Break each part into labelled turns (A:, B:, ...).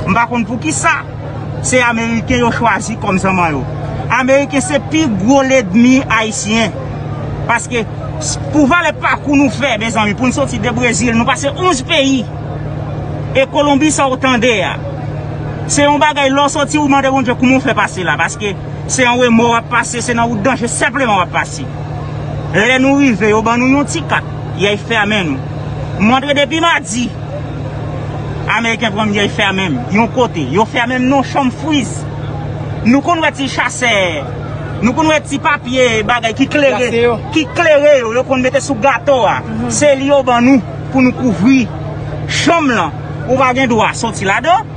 A: M pa konn pou ki sa. Se Ameriken yo chwazi kòm zanman yo. Ameriken se pi gwo ledmi Ayisyen. Paske pou valè pakou nou fè mezanmi pou n soti de Brezil nou pase 11 peyi. E Kolonbi sa ou tande a. Se yon bagay lè ou soti ou mande Bondye kouman ou fè pase la. Paske se yon remò w ap pase, se nan wout danje senpleman w ap pase. Lè nou rive yo ban nou yon ti kat. Yay fèmen nou. M antre depi madi. Ameriken pranm yo fèmenm yon kote yo fèmenm non chom friz nou konn wè ti chasè nou konn wè ti papye bagay ki klere ki klere yo yo konn mete sou gato a se li yo ban nou pou nou kouvri chom lan ou pa gen dwa soti ladan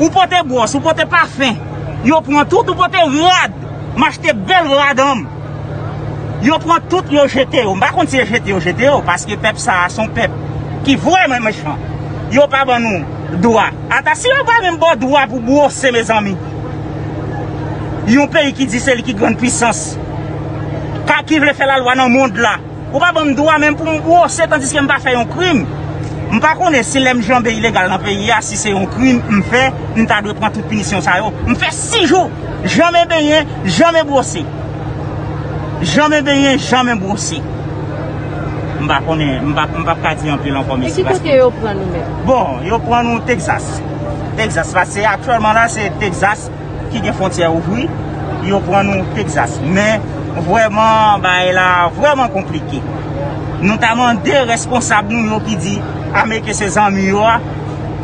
A: ou pote bwòs ou pote pafen yo pran tout ou pote rad m achte bèl rad anm. Yo pran tout yo jete yo. M pa konn si e jete yo jete yo. Paske pèp sa a se yon pèp ki vrèman mechan. Yo pa ban nou dwa. Ata si yo pa menm ba w dwa pou bwose mezanmi. Yon peyi ki di se li ki grann pwisans. Ka ki vle fè lalwa nan mond la. Ou pa banm dwa menm pou m bwose tandiske m pa fè yon krim. M pa konnen si lè m janbe ilegal nan peyi a si se yon krim m fè m ta dwe pran tout pinisyon sa yo. M fè 6 jou janmen benyen, janmen bwose. Janmen benyen, janmen bwose. M pa konnen, m pa m pap ka di anpil ankò mesi paske. E ki kote yo pran
B: nou menm? Bon, yo pran nou
A: Texas. Texas la se aktyèlman la se Texas. ki gen fontyè ouvri yo pran nou Texas men vrèman bagay la vrèman konplike nou ta mande responsab nou yo ki di ameriken se zanmi yo a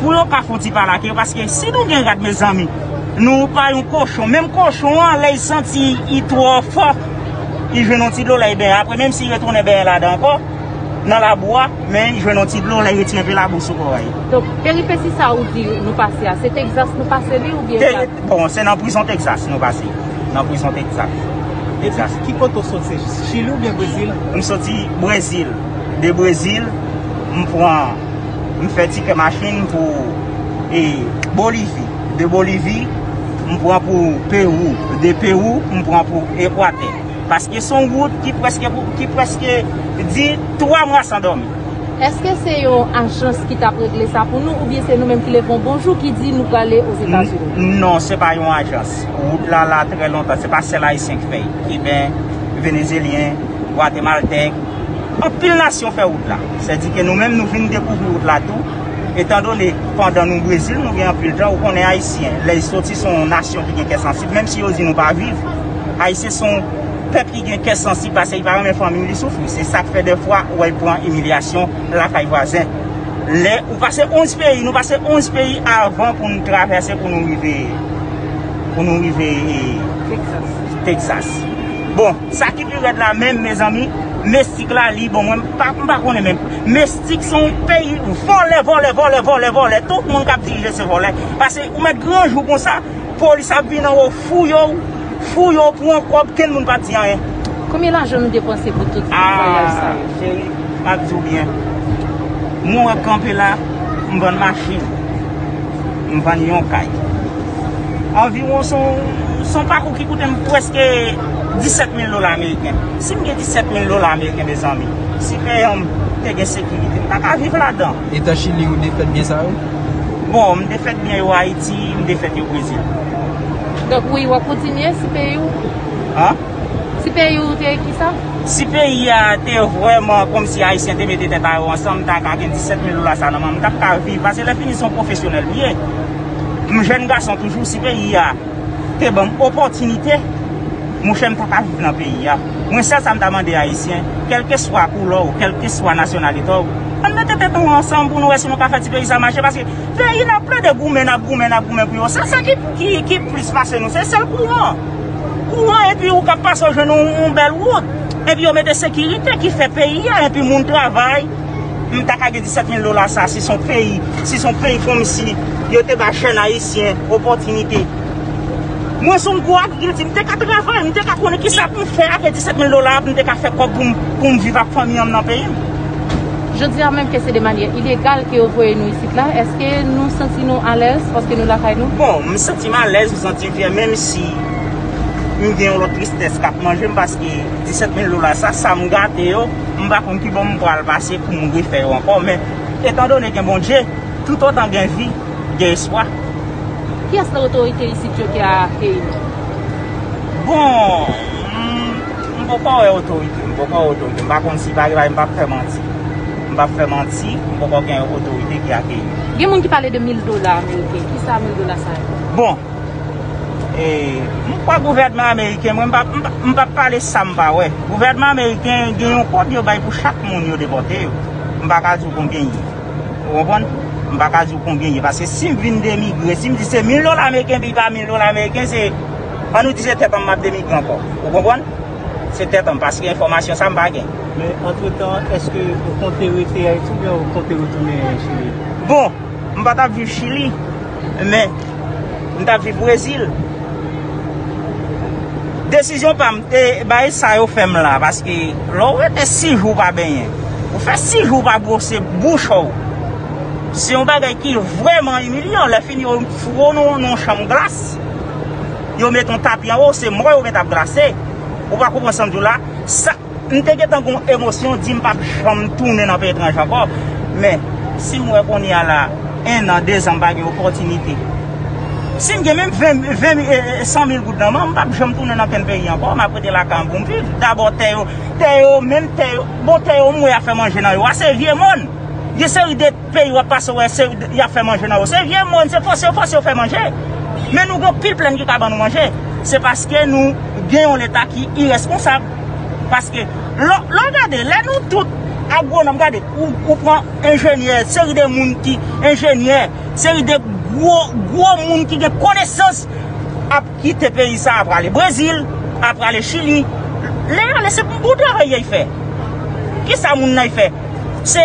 A: pou yo ka fon ti pale ak yo paske si nou gen rad mezanmi nou pa yon kochon menm kochon an lè y santi y twò fò y jwenn yon ti dlo lè y benyen apre menm si y retounen benyen ladan ankò. Nan labou a, men jwenn yon ti dlo lè yo retire anpe labou sou kò a ye. Donk, peripesi
B: sa ou di nou pase a, se Texas nou pase li oubyen sa? Bon, se nan prizon
A: Texas nou pase. Nan prizon Texas. Texas.
C: Ki kote ou soti? Se Chili oubyen Brezil? M soti
A: Brezil. De Brezil, m pran, m fè tikè machin pou e Bolivi. De Bolivi, m pran pou Perou. De Perou, m pran pou Ekwatè. Paske s on wout ki prèske pou ki prèske di 3 mwa san dòmi. Eske se
B: yon ajans ki tap regle sa pou nou oubyen se nou menm ki leve yon bon jou ki di nou prale Ozetazini? Non, se pa yon
A: ajans. Wout la la trè lontan. Se pa sèl Ayisyen ki fè l. Kiben, Venezelyen, Gwatemaltèk, anpil nasyon fè wout la. Sèdike nou menm nou vin dekouvri wout la tou. Etandone pandan nou Brezil nou gen anpil tan, ou konnen Ayisyen lè y soti s on nasyon ki gen kè sansib menm si yo di nou pa viv. Ayisyen se yon pèp ki gen kè sansib pase li pa renmen fanmi li soufri. Se sa k fè dèfwa ou wè l pran imilyasyon lakay vwazen. Lè ou pase 11 peyi, nou pase 11 peyi avan pou nou travèse pou nou rive pou nou rive Texas. Bon, sa ki pi rèd la menm mezanmi, Mestik la li bon mwen m pa konnen menm. Mestik se yon peyi vòlè vòlè vòlè vòlè vòlè. Tout moun k ap dirije se vòlè. Pase ou mèt gran jou konsa. Police ap vin anwo fouye w fouye w pran kob kenn moun pa di anyen. Konbyen lajan nou
B: depanse pou tout vwayaj sa yo. Aah cheri map
A: diw byen mwen wè kanpe la m vann machin m vann yon kay anviwon son pakou ki koute m preske 17 mil dola ameriken sim gen 17 mil dola ameriken mezanmi si peyan m te gen sekirite m ta ka viv ladan. Etan chili ou
C: defèt byen sa yo? Bon m
A: defèt byen yo ayiti. Si m te fèt yo brezil. Donk
B: wi wap kontinye si peyi w. An?
A: Si peyi
B: w te kisa? Si peyi a
A: te vrèman komsi ayisyen te mete tèt a yo ansanm m ta ka gen 17 mil dola sa nan menm m tap ka viv pase lè fini se yon pwofesyonèl m ye m jèn gason toujou si peyi a te banm opòtinite mouche m ta ka viv nan peyi a mwen sèl sa m ta mande ayisyen kèlkeswa koulè w kèlkeswa nasyonalite w ann mete tèt nou ansanm pou nou wè si nou ka fè ti peyi sa mache paske Peyi nap plede goumen nap goumen nap goumen pou yo se sa ki plis pase nou se sèl kouran kouran epi ou kap pase ou jwenn yon bèl wout epi yo mete sekirite ki fè peyi a epi moun travay m ta ka gen 17 mil dola sa si son peyi si son peyi kòmsi yo te bay jèn ayisyen opòtinite mwen son gwo agrikilti m te ka travay m te ka konnen kisa pou m fè ave 17 mil dola m te ka fè kòb pou m viv ak fanmi an m nan peyi m. Jodi
B: a menm ke se de manyè ilegal ke yo voye nou isit la, eske nou santi nou alèz paske nou lakay nou? Bon, m santi m
A: alèz, m santi m fyè menm si m gen yon lòt tristès k ap manje m paske 17 mil dola sa, sa m gate yo, m pa konn ki bò m pral pase pou m refè yo ankò men etan done gen Bondye, toutotan gen vi, gen espwa. Kiyès
B: nan otorite isit yo ki a akeyi nou? Bon,
A: m. M poko wè otorite, m poko wè otorite, m pa konn si bagay m pap fè manti, m pap fè manti, m poko gen otorite ki akeyi m. Gen moun ki pale de 1000
B: dola ameriken, kisa 1000 dola sa ye? Bon,
A: e, m kwè gouvènman ameriken, mwen m pa, m pap pale sa m pa wè. Gouvènman ameriken gen yon kòb yo bay pou chak moun yo depòte yo. M pa ka di w konbyen ye. Ou konprann? M pa ka di w konbyen ye. Paske si m vin demigre, si m di se 1000 dola ameriken pi ba 1000 dola ameriken se. An nou di se tèt anm map demigre ankò. Ou konprann? Se tèt anm paske enfòmasyon sa m pa gen. Men antretan
C: eske ou konte rete Ayiti oubyen ou konte retounen Chili? Bon, m
A: pa tap viv Chili, men m tap viv Brezil. Desizyon pa m te bay sa yo fè m la paske lè w rete 6 jou w pa benyen, ou fè 6 jou w pa bwose bouch w, se yon bagay ki vrèman imilyan. Lè fini yo foure w nan yon chanm glas. Yo met yon tapi anba w, se mò yo met ap glase. Ou pa konprann sa m di w la? Sa, m te gentan gen yon emosyon, di m pa p janm tounen nan peyi etranje ankò. Men, si m wè kounye a la, enn an, de zan, m pa gen opòtinite. Si m gen menm ven, ven mil, san mil goud nan men, m pa p janm tounen nan kenn peyi ankò. M ap rete lakay m pou m viv. Dabò tè yo, tè yo menm, tè yo, bon tè yo m wè y ap fè manje nan yo a, se vye mòn. Gen seri de. Peyi wap pase wè se yap fè manje nan yo. Se vye mòn, se fòse yo fòse yo fè manje. Men nou gen pil plèn ki ka ban nou manje. Se paske nou gen yon leta ki irèsponsab. Paske lò lò gade lè nou tout agwonòm gade ou pran enjenyè seri de moun ki enjenyè seri de gwo gwo moun ki gen konesans ap kite peyi sa a prale Brezil a prale Chili. Lè yale se bon travay yay fè. Kisa moun nan y fè? Se.